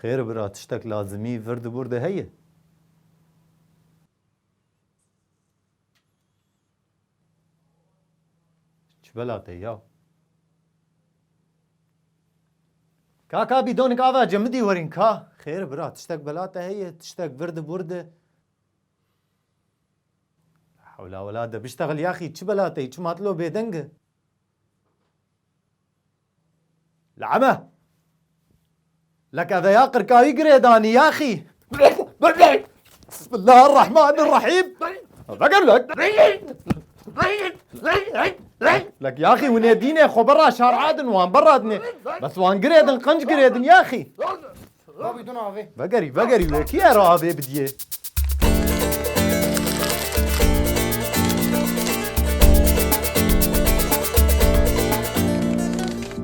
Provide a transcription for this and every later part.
Xêr e bira tiştek lazimî vir di bûr de heye? Çi bela te ya? Kaka bîdonik ava cemidî werîn ka. Xêr e bira tiştek bela te heye? Tiştek vir di bûr de. Hewla wela de biştexil yaxî çi bela te çi matlo bêdeng e? Lame! Li keveya qirkayî girê danî yaxî. Bismillah Rahman Rahîm. Vegel vek. Lek yaxî hûnê dînê xwe bera şar adin wan bera dinê. Bes wan girê din qenc girê din yaxî. Rabî duna avê. Vegerî vegerî wê kî era avê bidiyê.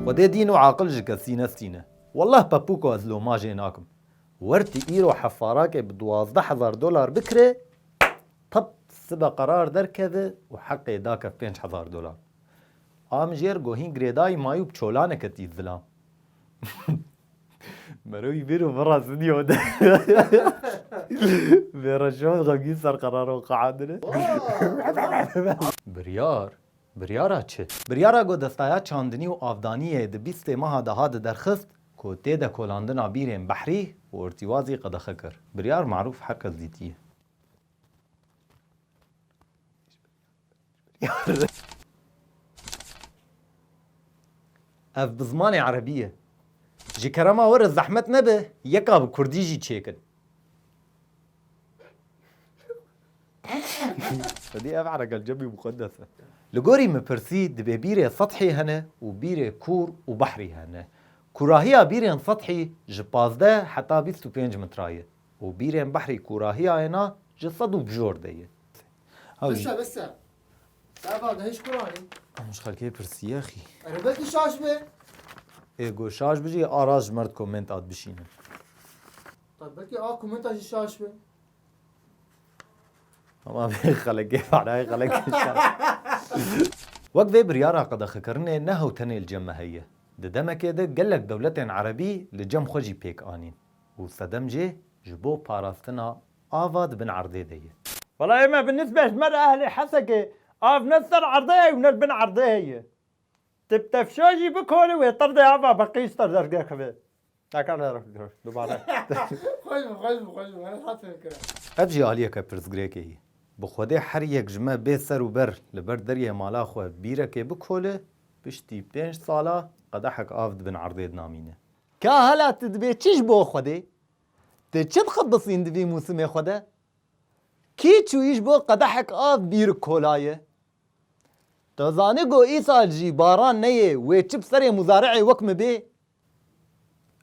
Xwedê dîn û aqil ji kesî nestîne. Wallah Pepuko ez lomajê nakim. Wertî îro hefarakê bi duwazdeh hezar dolar bikirê tap sibe qerar derkeve û heqê dake pênc hezar dolar. Amjêr gohîn girêdayî mayû bi çolaneke tî zilam. Mero î bêro vira stûdyo de. Vera şon xemgîn ser qeraro qeandine. Biryar? Biryara çi? Biryara ku Destaya Çandinî û Avdaniyê di bîstê meha de hat derxist ku tê de kolandina bîrên Behrî û Ortîwazî qedexe kir. Biryar marûf her kes dîtiye. Ev bi zimanê erebî ye. Ji kerema we re zehmet nebe yeka bi kurdî jî çêkin. Xwedî ev eregal cemî muqeddes e. Li gorî min pirsî divê bîrê sethî hene û bîrê kûr û behrî hene. Kûrahiya bîrên sethî ji pazdeh heta bîst û pênc metra ye û bîrên behrî kûrahiya êna ji sed û bijor de ye. Bişe bişe. Dava da hiç kurani. Ama şu xelkê pirsiye xî. Ere belki şaş be. Ê go şaş bijî araz ji merd koment ad bişînin. Tabi belki a komenta jî şaş be. Ama bê xelekê parayê xelekê şaş. Wek vê biryara qedexekirinê ne hew tenê li cem me heye. Di demekê de gelek dewletên erebî li cem xwe jî pêk anîn û sedem jê ji bo parastina Ava di bin erdê de ye. Walaye me bi nisbê ji me re ehlê Hesekê av ne ser erdê ye û ne li bin erdê he ye. Ti bi tefşa jî bikole wê tirdê ava bi qîz te derge xivê. Ev jî aliyeke pirsgirêkê ye. Bi xwedê her yek ji me bê ser û ber li ber deriyê mala xwe bîrekê bikole, piştî pênc sala qedehek av di bin erdê de namîne. Ka hala ti dibê çi ji bo xwedê Tu çi dixebisîn di vî mûsimê xwe de? Kî çûyî ji bo qedehek av bîr kolayê? Tu zanî ku îsal jî baran neyê wê çi bi serê muzari'ê wek min bê?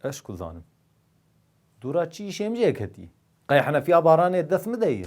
Ez ku zanim. Dûra çî îşê min jê ketî. Qey henefiya baranê dest min de yê.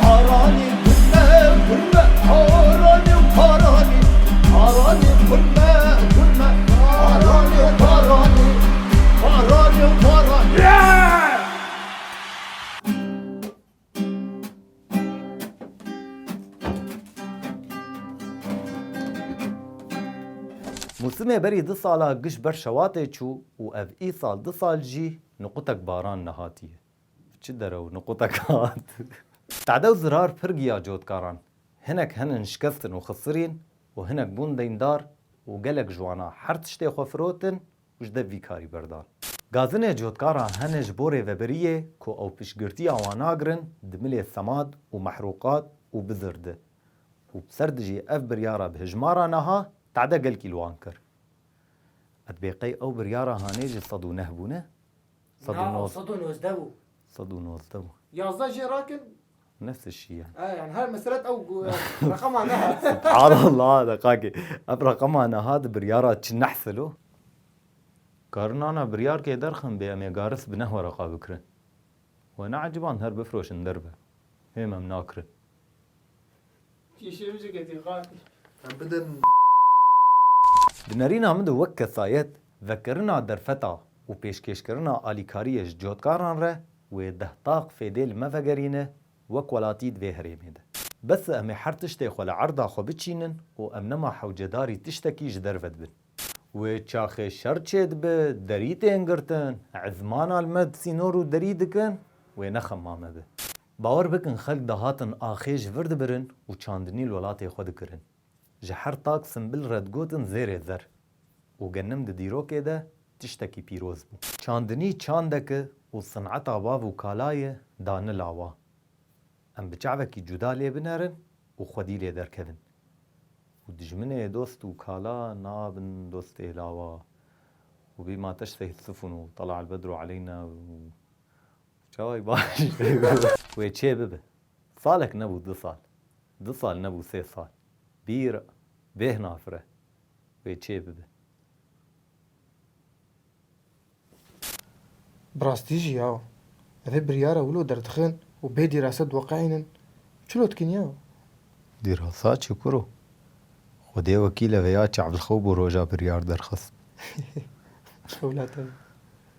Taranê kurme kurme taranê û taranê Taranê kurme kurme taranê û taranê Taranê û taranê. Mûsimê berî du sala giş ber şewatê çû û ev îsal du sal jî nuqutek baran nehatiye. Çi derew nuqûtek hat. Qede û zirar pir giya cotkaran. Hinek henin şikestin û xisirîn û hinek bûn deyndar û gelek ji wana her tiştê xwe firotin û ji dev vî karî berdan. Gazinê cotkaran hene ji bo rêveberiyê ku ew piştgirtiya wan nagirin di milê semad û mehrûqat û bizir di û bi ser di jî ev biryara bi hijmara niha qede gelkî li wan kir. Qet bê qey ew biryara hanê ji sed û neh bûne? Sed û nozdeh. Sed û nozdeh bû. Sed û nozdeh bû. Yazdeh jê rakin. Nefs şî ye. E yani her mesret ew reqama nehat. Subhanallah deqakê. Ev reqama nehat biryara çi nehsil o? Karin ana biryar kê derxin bê em ê garis bi nehwe reqa bikirin. We neeciband her bifroşin derve. Hê me em nakirin. Di nêrîna min de wek kesayet, vekirina derfeta û pêşkêşkirina alîkariyê ji cotkaran re wê deh taq fêdê li me vegerîne wek welatî di vê herêmê de. Bes e em ê her tiştê xwe li erda xwe biçînin û em nema hewcedarî tiştekî ji derve dibin. Wê çaxê şer çêdibe, derî tên girtin, ezmana li me di sînor û derî dikin, wê nexema me be. Bawer bikin xelk dihatin axê ji vir dibirin û çandinî li welatê xwe dikirin. Ji her tak simbil re digotin zêrê zer û genim di dîrokê de tiştekî pîroz bû. Çandinî çandek e û sineta bav û kala ye dane lawa. Em bi çavekî cuda lê binerin û xwedî lê derkevin. Û dijminê dost û kala nabin dostê lawa. Û bî mateş seyid sifun û tala el bedru aleyna û Çavayî baş wê çê bibe. Salek nebû du sal. Du sal nebû sê sal. Bîr bêh nafire wê çê bibe. Bi rastî jî yaw. Evê biryara wilo derdixin û bê dîrasa diweqeînin. Çilo dikin yaw? Dîrasa çi kuro? Xwedê wekîle veya çavlxew bû roja biryar derxist. Xewlate.